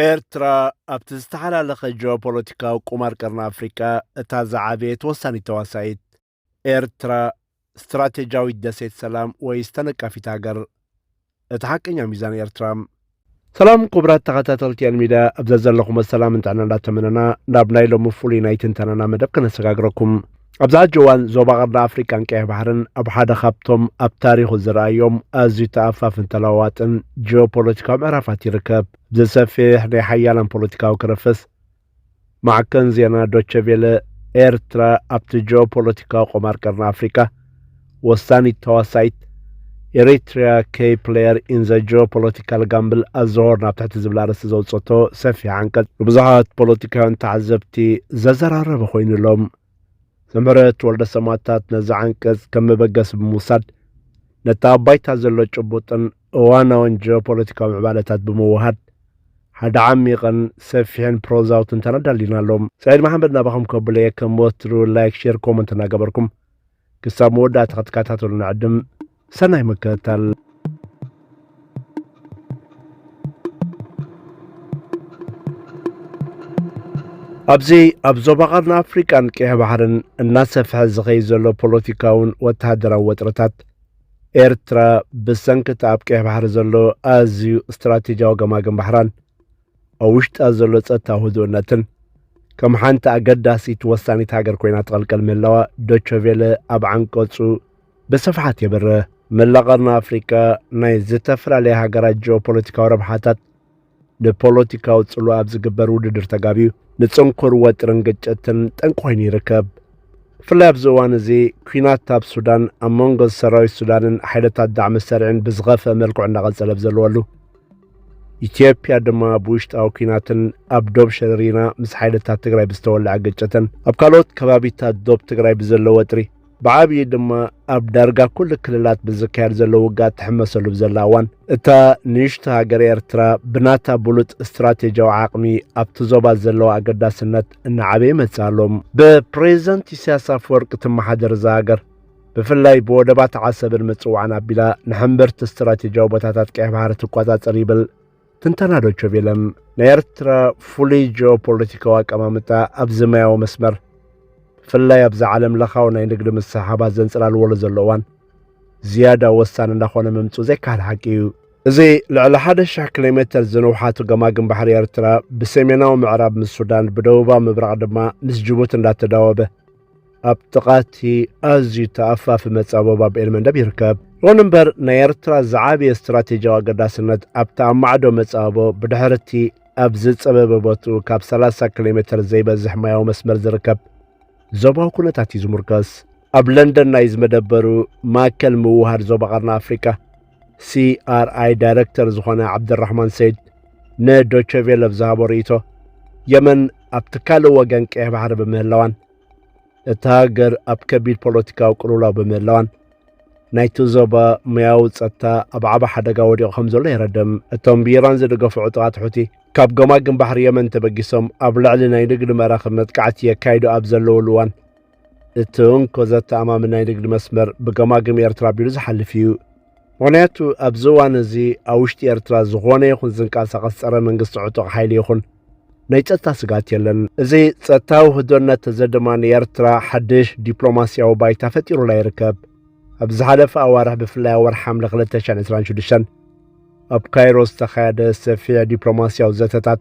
ኤርትራ ኣብቲ ዝተሓላለኸ ጂኦፖለቲካዊ ቁማር ቀርኒ ኣፍሪቃ እታ ዝዓበየት ወሳኒት ተዋሳኢት፣ ኤርትራ ስትራቴጂያዊት ደሴት ሰላም ወይስ ተነቃፊት ሃገር? እቲ ሓቀኛ ሚዛን ኤርትራ። ሰላም ኩቡራት ተኸታተልቲ ኤን ሚድያ ኣብ ዘዘለኹሞ ሰላምን ጥዕናን እንዳተመነና ናብ ናይ ሎሚ ፍሉይ ናይ ትንተናና መደብ ከነሰጋግረኩም። ኣብዚ ሐጂ እዋን ዞባ ቀርኒ ኣፍሪቃን ቀይሕ ባሕርን ኣብ ሓደ ካብቶም ኣብ ታሪኹ ዝርኣዮም ኣዝዩ ተኣፋፍን ተለዋዋጥን ጂኦፖለቲካዊ ምዕራፋት ይርከብ። ብዘሰፍሕ ናይ ሓያላን ፖለቲካዊ ክረፈስ ማዕከን ዜና ዶቸ ቬለ ኤርትራ ኣብቲ ጂኦፖለቲካዊ ቆማር ቀርኒ ኣፍሪቃ ወሳኒት ተዋሳኢት ኤሪትሪያ ከይ ፕሌየር ኢን ዘ ጂኦፖለቲካል ጋምብል ኣዘሆርን ኣብ ትሕቲ ዝብል ኣርእስቲ ዘውጸቶ ሰፊሕ ዓንቀጽ ንብዙሓት ፖለቲካውያን ተዓዘብቲ ዘዘራረበ ኮይኑሎም ዘምህረት ወልደ ሰማእታት ነዚ ዓንቀጽ ከም መበገሲ ብምውሳድ ነቲ ኣብ ባይታ ዘሎ ጭቡጥን እዋናውን ጂኦፖለቲካዊ ምዕባለታት ብምውሃድ፣ ሓደ ዓሚቕን ሰፊሕን ፕሮዛዊ ትንተና ኣዳሊና ኣሎ። ሰዒድ መሓመድ ናባኹም ከብሎ'የ፣ ከም ወትሩ ላይክ ሼር ኮመንት እናገበርኩም ክሳብ መወዳእታ ክትከታተሉ ንዕድም። ሰናይ ምክትታል። ኣብዚ ኣብ ዞባ ቀርኒ ኣፍሪቃን ቀይሕ ባሕርን እናሰፍሐ ዝኸይድ ዘሎ ፖለቲካውን ወተሃደራዊ ወጥረታት ኤርትራ ብሰንኪ እቲ ኣብ ቀይሕ ባሕሪ ዘሎ ኣዝዩ ስትራቴጂያዊ ገማግም ባሕራን ኣብ ውሽጣ ዘሎ ጸጥታዊ ህዱእነትን ከም ሓንቲ ኣገዳሲት ወሳኒት ሃገር ኮይና ትቐልቀል ምህላዋ ዶቸቬለ ኣብ ዓንቀጹ ብስፍሓት የብርህ። መላእ ቀርኒ ኣፍሪቃ ናይ ዝተፈላለያ ሃገራት ጂኦፖለቲካዊ ረብሓታት ንፖለቲካዊ ጽልዋ ኣብ ዝግበር ውድድር ተጋብዩ ንጽንኩር ወጥርን ግጭትን ጠንቂ ኮይኑ ይርከብ ብፍላይ ኣብዚ እዋን እዚ ኩናት ኣብ ሱዳን ኣብ መንጎ ሰራዊት ሱዳንን ሓይልታት ዳዕሚ ሰርዕን ብዝኸፍአ መልክዑ እናቐጸለ ብዘለወሉ ኢትዮጵያ ድማ ኣብ ውሽጣዊ ኩናትን ኣብ ዶብ ሸረሪና ምስ ሓይልታት ትግራይ ብዝተወልዐ ግጭትን ኣብ ካልኦት ከባቢታት ዶብ ትግራይ ብዘሎ ወጥሪ ብዓብዪ ድማ ኣብ ዳርጋ ኩሉ ክልላት ብዝካየድ ዘሎ ውግኣ ትሕመሰሉ ብዘላ እዋን እታ ንእሽቶ ሃገር ኤርትራ ብናታ ብሉፅ ስትራቴጂያዊ ዓቕሚ ኣብቲ ዞባ ዘለዋ ኣገዳስነት እናዓበየ መጽ ኣሎ ብፕሬዚደንት ኢሳያስ ኣፈወርቂ ትመሓደር እዛ ሃገር ብፍላይ ብወደባት ዓሰብን ምጽዋዕን ኣቢላ ንሕምብርቲ ስትራቴጂያዊ ቦታታት ቀይሕ ባህሪ ትቆጻጸር ይብል ትንተና ዶቸ ቬለም ናይ ኤርትራ ፍሉይ ጂኦፖለቲካዊ ኣቀማምጣ ኣብዚ ማያዊ መስመር ብፍላይ ኣብዚ ዓለም ለኻዊ ናይ ንግዲ ምስሕሓባት ዘንጸላልወሉ ዘሎ እዋን ዝያዳ ወሳኒ እንዳኾነ ምምጽኡ ዘይከሃል ሓቂ እዩ። እዚ ልዕሊ ሓደ ሽሕ ኪሎ ሜተር ዝንውሓቱ ገማግም ባሕሪ ኤርትራ ብሰሜናዊ ምዕራብ ምስ ሱዳን ብደቡባዊ ምብራቕ ድማ ምስ ጅቡቲ እንዳተዳወበ ኣብ ጥቓ እቲ ኣዝዩ ተኣፋፊ መጻበቢ ኣብ ኤልመንደብ ይርከብ። ይኹን እምበር ናይ ኤርትራ ዝዓበየ ስትራቴጂያዊ ኣገዳስነት ኣብቲ ኣብ ማዕዶ መጻቦ ብድሕሪ እቲ ኣብ ዝጸበበ ቦትኡ ካብ 30 ኪሎ ሜተር ዘይበዝሕ ማያዊ መስመር ዝርከብ ዞባዊ ኩነታት እዩ ዝሙርከስ። ኣብ ለንደን ናይ ዝመደበሩ ማእከል ምውህሃድ ዞባ ቀርኒ ኣፍሪቃ ሲኣርኣይ ዳይረክተር ዝኾነ ዓብደራህማን ሰይድ ንዶቸ ቬለ ኣብ ዝሃቦ ርእይቶ የመን ኣብቲ ካልእ ወገን ቀይሕ ባሕሪ ብምህላዋን እታ ሃገር ኣብ ከቢድ ፖለቲካዊ ቅልውላው ብምህላዋን ናይቲ ዞባ ሙያዊ ጸጥታ ኣብ ዓበ ሓደጋ ወዲቑ ከም ዘሎ የረድም እቶም ብኢራን ዝድገፉ ዕጡቓት ሑቲ ካብ ገማግም ባሕሪ የመን ተበጊሶም ኣብ ልዕሊ ናይ ንግዲ መራኽብ መጥቃዕቲ የካይዱ ኣብ ዘለውሉ እዋን እቲ እንኮ ዘተኣማምን ናይ ንግዲ መስመር ብገማግም ኤርትራ ኣቢሉ ዝሓልፍ እዩ። ምኽንያቱ ኣብዚ እዋን እዚ ኣብ ውሽጢ ኤርትራ ዝኾነ ይኹን ዝንቀሳቐስ ጸረ መንግስቲ ዕጡቕ ሓይሊ ይኹን ናይ ጸጥታ ስግኣት የለን። እዚ ጸጥታ ውህዶነት እዚ ድማ ንኤርትራ ሓድሽ ዲፕሎማስያዊ ባይታ ፈጢሩላ ይርከብ። ኣብ ዝሓለፈ ኣዋርሕ ብፍላይ ወርሒ ሓምለ 2026 ኣብ ካይሮ ዝተኻየደ ሰፊሕ ዲፕሎማስያዊ ዘተታት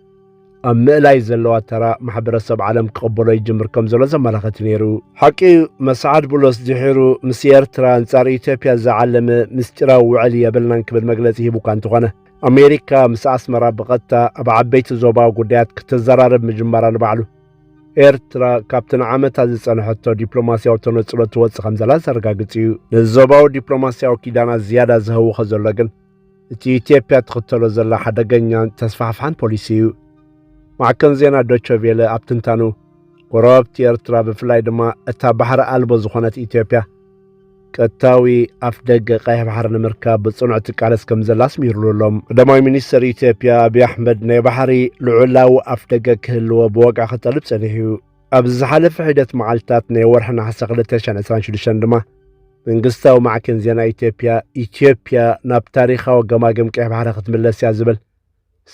ኣብ ምእላይ ዘለዋ ተራ ማሕበረሰብ ዓለም ክቕበሎ ይጅምር ከም ዘሎ ዘመላኸት ነይሩ። ሓቂ መሰዓድ ቡሎስ ድሒሩ ምስ ኤርትራ ኣንጻር ኢትዮጵያ ዝዓለመ ምስጢራዊ ውዕል የብልናን ክብል መግለጺ ሂቡ እኳ እንተኾነ ኣሜሪካ ምስ ኣስመራ ብቐጥታ ኣብ ዓበይቲ ዞባዊ ጉዳያት ክትዘራረብ ምጅማራ ንባዕሉ ኤርትራ ካብቲ ንዓመታት ዝጸንሐቶ ዲፕሎማስያዊ ተነጽሎ ትወጽእ ከም ዘላ ዘረጋግጽ እዩ። ንዞባዊ ዲፕሎማስያዊ ኪዳናት ዝያዳ ዝህውኸ ዘሎ ግን እቲ ኢትዮጵያ ትኽተሎ ዘላ ሓደገኛን ተስፋሕፋሕን ፖሊሲ እዩ። ማዕከን ዜና ዶቸ ቬለ ኣብ ትንታኑ ጎረባብቲ ኤርትራ ብፍላይ ድማ እታ ባሕሪ ኣልቦ ዝኾነት ኢትዮጵያ ቀጥታዊ ኣፍ ደገ ቀይሕ ባሕሪ ንምርካብ ብጽኑዕ ትቃለስ ከም ዘላ ኣስሚሩሉ ኣሎ። ቀዳማይ ሚኒስትር ኢትዮጵያ ኣብዪ ኣሕመድ ናይ ባሕሪ ልዑላዊ ኣፍ ደገ ክህልዎ ብወግዒ ክጠልብ ጸኒሑ እዩ። ኣብዚ ዝሓለፈ ሒደት መዓልትታት ናይ ወርሒ ነሓሰ 2026 ድማ መንግስታዊ ማዕከን ዜና ኢትዮጵያ ኢትዮጵያ ናብ ታሪኻዊ ገማግም ቀይሕ ባሕሪ ክትምለስ እያ ዝብል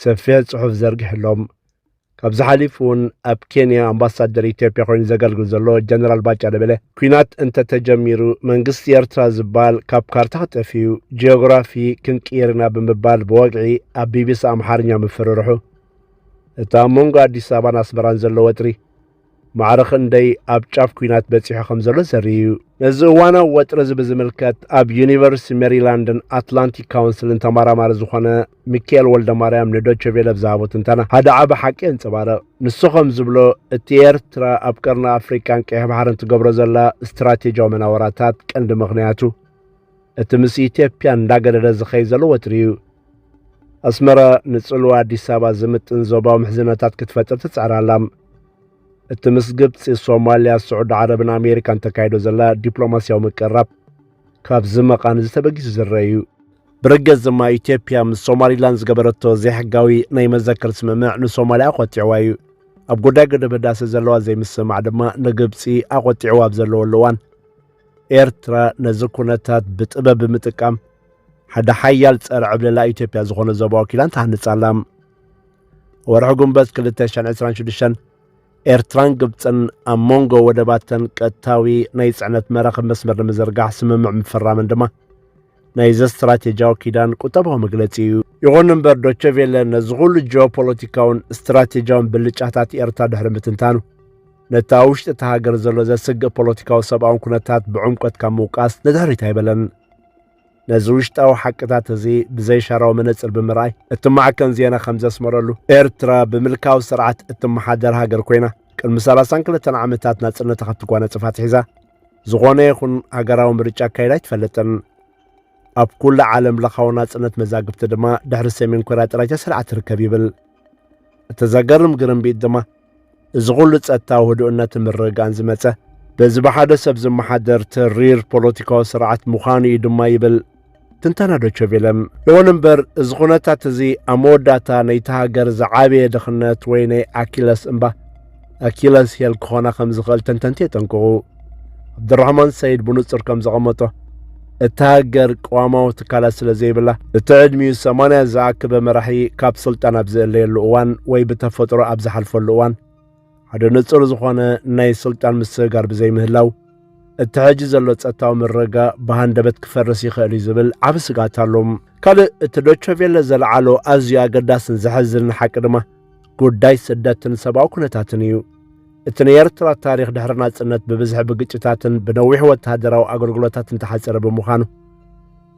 ሰፊሕ ጽሑፍ ዘርጊሕሎም ካብዚ ሓሊፉ እውን ኣብ ኬንያ ኣምባሳደር ኢትዮጵያ ኮይኑ ዘገልግል ዘሎ ጀነራል ባጫ ደበለ ኩናት እንተተጀሚሩ መንግስቲ ኤርትራ ዝበሃል ካብ ካርታ ክጠፍዩ ጂኦግራፊ ክንቅይር ኢና ብምባል ብወግዒ ኣብ ቢቢሲ ኣምሓርኛ ምፍርርሑ እቲ ኣብ መንጎ ኣዲስ ኣበባን ኣስመራን ዘሎ ወጥሪ ማዕረ ክንደይ ኣብ ጫፍ ኩናት በጺሑ ከም ዘሎ ዘርኢ እዩ። ነዚ እዋናዊ ወጥሪ እዚ ብዝምልከት ኣብ ዩኒቨርሲቲ ሜሪላንድን ኣትላንቲክ ካውንስልን ተመራማሪ ዝኾነ ሚካኤል ወልደ ማርያም ንዶቸ ቬለ ብዝሃቦ ትንተና ሓደ ዓቢ ሓቂ የንጸባርቕ። ንሱ ከም ዝብሎ እቲ ኤርትራ ኣብ ቀርኒ ኣፍሪቃን ቀይሕ ባሕርን ትገብሮ ዘላ ስትራቴጂያዊ መናወራታት ቀንዲ ምኽንያቱ እቲ ምስ ኢትዮጵያ እንዳገደደ ዝኸይ ዘሎ ወትሩ እዩ። ኣስመራ ንጽልዋ ኣዲስ ኣበባ ዝምጥን ዞባዊ ምሕዝነታት ክትፈጥር ትጽዕር ኣላ። እቲ ምስ ግብፂ፣ ሶማልያ፣ ስዑዲ ዓረብን ኣሜሪካን ተካይዶ ዘላ ዲፕሎማስያዊ ምቅርራብ ካብዚ መቓን እዚ ተበጊሱ ዝረአ እዩ። ብርግጽ ድማ ኢትዮጵያ ምስ ሶማሊላንድ ዝገበረቶ ዘይሕጋዊ ናይ መዘከር ስምምዕ ንሶማልያ ኣቖጢዕዋ እዩ። ኣብ ጉዳይ ግድብ ህዳሰ ዘለዋ ዘይምስምማዕ ድማ ንግብፂ ኣቖጢዕዋ ኣብ ዘለወሉ እዋን ኤርትራ ነዚ ኩነታት ብጥበብ ብምጥቃም ሓደ ሓያል ጸረ ዕብለላ ኢትዮጵያ ዝኾነ ዞባዊ ኪዳን ትሃንጽ ኣላ። ወርሒ ጉንበት 2026 ኤርትራን ግብፅን ኣብ መንጎ ወደባተን ቀጥታዊ ናይ ፅዕነት መራኽብ መስመር ንምዝርጋሕ ስምምዕ ምፍራመን ድማ ናይዚ ስትራቴጂያዊ ኪዳን ቁጠባዊ መግለፂ እዩ። ይኹን እምበር ዶቸቬለ ነዚ ኩሉ ጂኦፖለቲካውን ስትራቴጂያውን ብልጫታት ኤርትራ ድሕሪ ምትንታኑ ነቲ ኣብ ውሽጢ እታ ሃገር ዘሎ ዘስግእ ፖለቲካዊ ሰብኣውን ኩነታት ብዕምቆት ካብ ምውቃስ ንድሕሪት ኣይበለን ነዚ ውሽጣዊ ሓቅታት እዚ ብዘይሻራዊ መነጽር ብምርኣይ እቲ ማዕከን ዜና ከም ዘስመረሉ ኤርትራ ብምልካዊ ስርዓት እትመሓደር ሃገር ኮይና ቅድሚ 32 ዓመታት ናጽነታ ክትጓነጽፍ ኣትሒዛ ዝኾነ ይኹን ሃገራዊ ምርጫ ኣካይዳ ኣይትፈልጥን ኣብ ኩሉ ዓለም ለኻዊ ናጽነት መዛግብቲ ድማ ድሕሪ ሰሜን ኮርያ ጥራይ ተሰሪዓ ትርከብ ይብል እቲ ዘገርም ግርምቢጥ ድማ እዚ ኹሉ ጸጥታዊ ህዱእነትን ምርግጋእን ዝመጸ በዚ ብሓደ ሰብ ዝመሓደር ተሪር ፖለቲካዊ ስርዓት ምዃኑ እዩ ድማ ይብል ትንተና ዶቸቬለም። ይኹን እምበር እዚ ኩነታት እዚ ኣብ መወዳእታ ነይቲ ሃገር ዝዓበየ ድኽነት ወይ ናይ ኣኪለስ እምባ ኣኪለስ ሄል ክኾና ከም ዝኽእል ተንተንቲ የጠንቅቑ። ዓብድራህማን ሰይድ ብንጹር ከም ዘቐመጦ እታ ሃገር ቅዋማዊ ትካላት ስለ ዘይብላ እቲ ዕድሚኡ ሰማንያ ዝኣከበ መራሒ ካብ ስልጣን ኣብ ዝእለየሉ እዋን ወይ ብተፈጥሮ ኣብ ዝሓልፈሉ እዋን ሓደ ንጹር ዝኾነ ናይ ስልጣን ምስግጋር ብዘይምህላው እቲ ሕጂ ዘሎ ጸጥታዊ ምረጋ ብሃንደበት ክፈርስ ይኽእል እዩ ዝብል ዓብ ስጋት ኣሎ ካልእ እቲ ዶቸቬለ ዘለዓሎ ኣዝዩ ኣገዳስን ዘሐዝንን ሓቂ ድማ ጉዳይ ስደትን ሰብኣዊ ኩነታትን እዩ። እቲ ናይ ኤርትራ ታሪኽ ድሕሪ ናጽነት ብብዝሒ ብግጭታትን ብነዊሕ ወተሃደራዊ ኣገልግሎታትን ተሓጸረ ብምዃኑ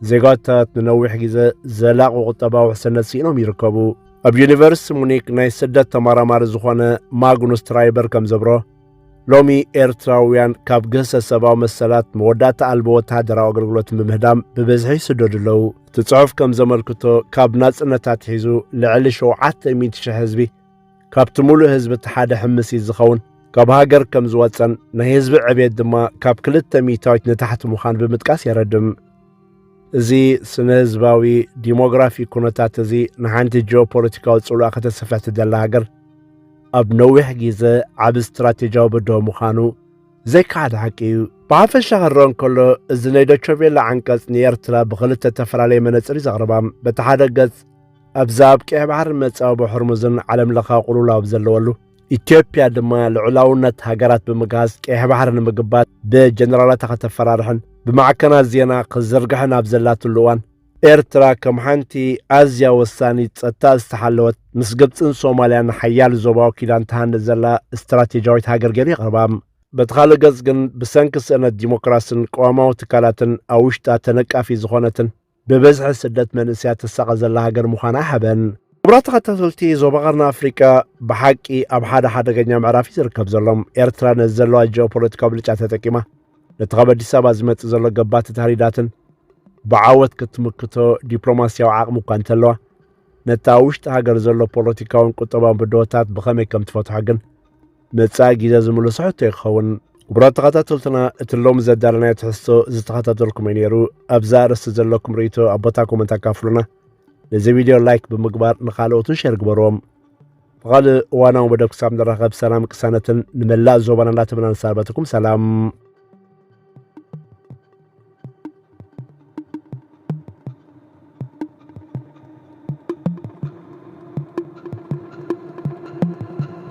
ዜጋታት ንነዊሕ ግዜ ዘላቕ ቁጠባዊ ውሕስነት ስኢኖም ይርከቡ። ኣብ ዩኒቨርሲቲ ሙኒክ ናይ ስደት ተመራማሪ ዝኾነ ማግኑስ ትራይበር ከም ዘብሮ ሎሚ ኤርትራውያን ካብ ግህሰት ሰብኣዊ መሰላት መወዳእታ ኣልቦ ወተሃደራዊ ኣገልግሎት ብምህዳም ብብዝሒ ይስደዱ ኣለዉ። እቲ ጽሑፍ ከም ዘመልክቶ ካብ ናጽነት ኣትሒዙ ልዕሊ ሸውዓተ ሚእቲ ሽሕ ህዝቢ ካብቲ ምሉእ ህዝቢ እቲ ሓደ ሕምሲት ዝኸውን ካብ ሃገር ከም ዝወጸን ናይ ህዝቢ ዕብየት ድማ ካብ ክልተ ሚእታዊት ንታሕቲ ምዃን ብምጥቃስ የረድም። እዚ ስነ ህዝባዊ ዲሞግራፊ ኩነታት እዚ ንሓንቲ ጂኦፖለቲካዊ ጽልዋ ከተስፍሕ ትደላ ሃገር ኣብ ነዊሕ ግዜ ዓብ ስትራቴጂያዊ ብድሆ ምዃኑ ዘይከሓድ ሓቂ እዩ። ብሓፈሻ ክረአ እንከሎ እዚ ናይ ዶቸቬላ ዓንቀጽ ንኤርትራ ብኽልተ እተፈላለየ መነጽር እዩ ዘቕርባ በቲ ሓደ ገጽ ኣብዛ ኣብ ቀይሕ ባሕርን መጻወቦ ሕርሙዝን ዓለም ለኻዊ ቁልውላው ኣብ ዘለወሉ ኢትዮጵያ ድማ ልዑላውነት ሃገራት ብምግሃስ ቀይሕ ባሕሪ ንምግባት ብጀነራላታ ከተፈራርሕን ብማዕከናት ዜና ክዝርግሕን ኣብ ዘላትሉ እዋን ኤርትራ ከም ሓንቲ ኣዝያ ወሳኒት ጸጥታ ዝተሓለወት ምስ ግብፅን ሶማልያን ሓያል ዞባዊ ኪዳን ትሃንድ ዘላ ስትራቴጂያዊት ሃገር ገይሩ የቕርባ በቲ ካልእ ገጽ ግን ብሰንኪ ስእነት ዲሞክራስን ቀዋማዊ ትካላትን ኣብ ውሽጣ ተነቃፊ ዝኾነትን ብብዝሒ ስደት መንእሰያት ትሳቐ ዘላ ሃገር ምዃና ሓበን። ክቡራት ተኸታተልቲ ዞባ ቀርኒ ኣፍሪቃ ብሓቂ ኣብ ሓደ ሓደገኛ ምዕራፍ እዩ ዝርከብ ዘሎ። ኤርትራ ነዚ ዘለዋ ጂኦፖለቲካዊ ብልጫ ተጠቂማ ነቲ ካብ ኣዲስ ኣበባ ዝመጽእ ዘሎ ገባቲ ታህሪዳትን ብዓወት ክትምክቶ ዲፕሎማስያዊ ዓቕሚ እኳ እንተለዋ ነቲ ኣብ ውሽጢ ሃገር ዘሎ ፖለቲካውን ቁጠባውን ብድሆታት ብኸመይ ከም ትፈትሖ ግን መጻኢ ግዜ ዝምልሶ ሕቶ እዩ ክኸውን። ክቡራት ተኸታተልትና እቲ ሎሚ ዘዳለናዮ ትሕዝቶ ዝተኸታተልኩም እዩ ነይሩ። ኣብዚ ኣርእስቲ ዘለኩም ርእይቶ ኣብ ቦታ ኮመንት ኣካፍሉና። ነዚ ቪድዮ ላይክ ብምግባር ንኻልኦትን ሸር ግበርዎም። ብኻልእ እዋናዊ መደብ ክሳብ ንራኸብ ሰላም ቅሳነትን ንመላእ ዞባና እንዳተመና ንሰናበተኩም ሰላም